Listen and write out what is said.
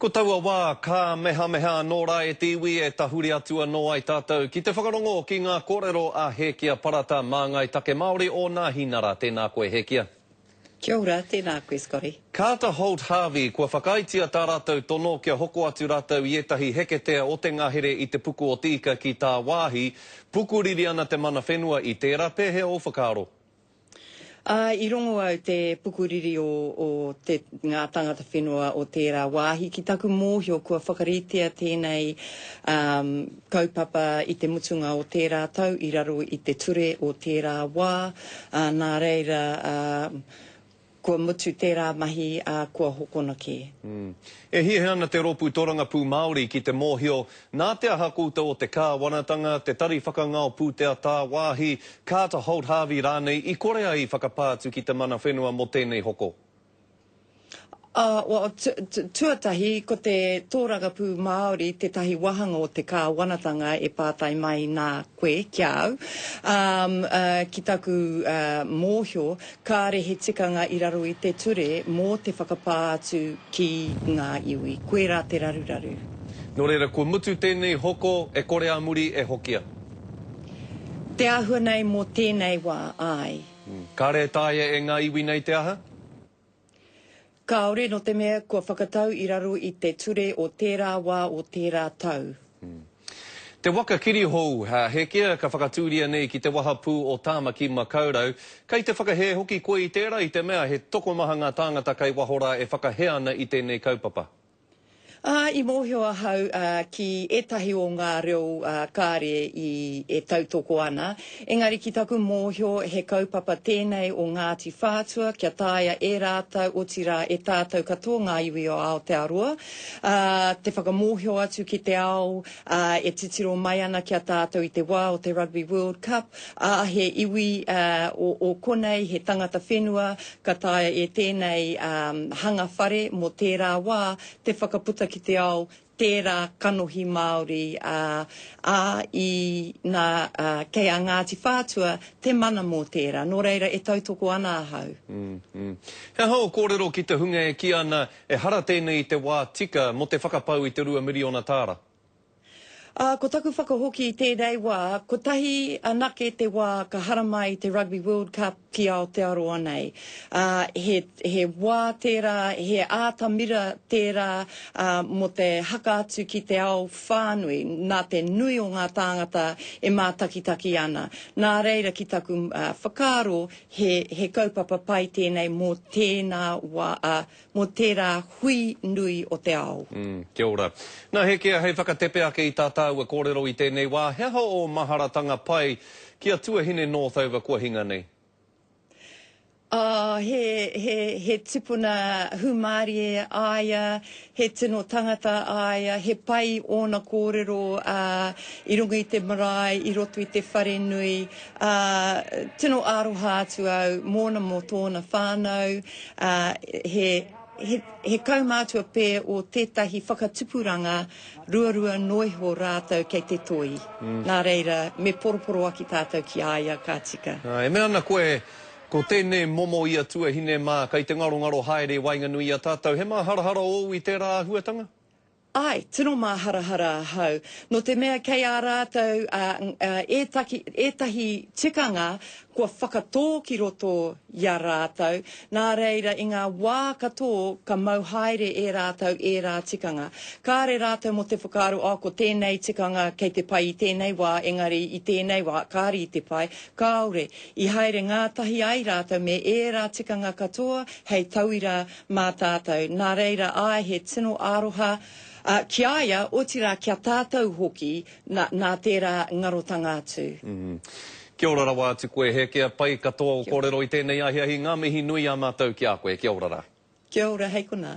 Ko taua wā, ka mehameha anō rā e te iwi e tahuri atu anō ai tātou ki te whakarongo ki ngā kōrero a Hēkia Parata, māngai take Māori o Nāhinara. Tēnā koe, Hēkia. Kia ora, tēnā koe, Scotty. Carter Holt Harvey, kua whakaaetia tā rātou tono kia hoko atu rātou i ētahi heketea o te ngahere i te puku o te ika ki tāwāhi. Pukuriri ana te mana whenua i tērā, pēhea ō whakaaro? Ā, i rongo au te pukuriri o, o te, ngā tangata whenua o tērā wāhi ki taku mōhio kua whakaritea tēnei um, kaupapa i te mutunga o tērā tau i raro i te ture o tērā wā, ā, nā reira uh, Kua mutu tērā mahi, ā, kua hokona kē. E hiahia ana te Rōpū Tōrangapū Māori ki te mōhio nā te aha koutou o te Kāwanatanga, te Tari Whakangao Pūtea Tāwāhi, Carter Holt Harvey rānei i kore ai i whakapā atu ki te mana whenua mō tēnei hoko? Ā, tuatahi, ko te Tōrangapū Māori tētahi wāhanga o te Kāwanatanga e pātai mai nā koe ki a au. Ā, ki taku mōhio, Kāre he tikanga i raro i te ture mō te whakapā atu ki ngā iwi. Koirā te raruraru. Nō reira, kua mutu tēnei hoko, e kore ā muri e hokia. Te āhua nei mō tēnei wā, āe. Kāre e taea e ngā iwi nei te aha? Kāore, nō te mea kua whakatau i raro i te ture o tērā wā, o tērā tau. Te waka kirihou, Hēkea, ka whakatūria nei ki te wahapū o Tāmaki Makaurau. Kei te whakahē hoki koe i tērā i te mea he tokomaha ngā tāngata kei waho rā e whakahē ana i tēnei kaupapa. Ā, i mōhio ahau ki ētahi o ngā reo kāre e tautoko ana, engari ki taku mōhio he kaupapa tēnei o Ngāti Whātua kia taea e rātou, otirā e tātou katoa ngā iwi o Aotearoa, te whakamōhio atu ki te ao e titiro mai ana ki a tātou i te wā o te Rugby World Cup, Ā, he iwi o konei, he tangata whenua, ka taea e tēnei hanga whare mō tērā wā te whakaputa ki te ao tērā kanohi Māori, ā, i, nā, kei a Ngāti Whātua te mana mō tērā. Nō reira, e tautoko ana ahau. He aha ō kōrero ki te hunga e kī ana ehara tēnei i te wā tika mō te whakapau i te rua miriona tāra? Ā, ko taku whakahoki i tēnei wā, kotahi anake te wā ka haramai i te Rugby World Cup ki Aotearoa nei. Ā, he, he wā tērā, he ātamira tērā ā, mō te haka atu ki te ao whānui, nā te nui o ngā tāngata e mātakitaki ana. Nā reira, ki taku ā, whakaaro, he, he kaupapa pai tēnei mō tēnā wā, ā, mō tērā hui nui o te ao. Ū, kia ora. Nā Hēkea hei whakatepe ake i tā tāua kōrero i tēnei wā, he aha ō maharatanga pai ki a Tuahine Northover kua hinga nei? Ā, he, he, he tipuna hūmārie a ia, he tino tangata a ia, he pai ōna kōrero, ā, i runga i te marae, i roto i te wharenui, ā, tino aroha atu au mōna, mō tōna whānau. ā, he, he, he kaumātua pē o tētahi whakatupuranga ruarua noa iho rātou kei te toi. Mm. Nā reira, me poroporoaki tātou ki a ia ka tika. Ā, e mea ana koe, Ko tēnei momo i a tuahine mā, kei te ngarongaro haere i waenganui i a tātou, he māharahara ōu i tērā āhuatanga? Ae, tino māharahara ahau, nō te mea kei a rātou ētahi tikanga kua whakatō ki roto i a rātou, nā reira i ngā wā katō ka mau haere e rātou ērā tikanga. Kāre rātou mō te whakaaro, oh ko tēnei tikanga kei te pai i tēnei wā, engari i tēnei wā kāre i te pai, kāore. I haere ngātahi ai rātou me ērā tikanga katoa hei tauira mā tātou, nā reira āe he tino aroha ki a ia, otirā ki a tātou hoki, nā tērā ngarotanga atu. Kia ora rawa atu koe, he kea pai katoa o korero i tēnei ahiahi, ngā mihi nui ā mātou ki a koe, kia ora ra. Kia ora, hei konā.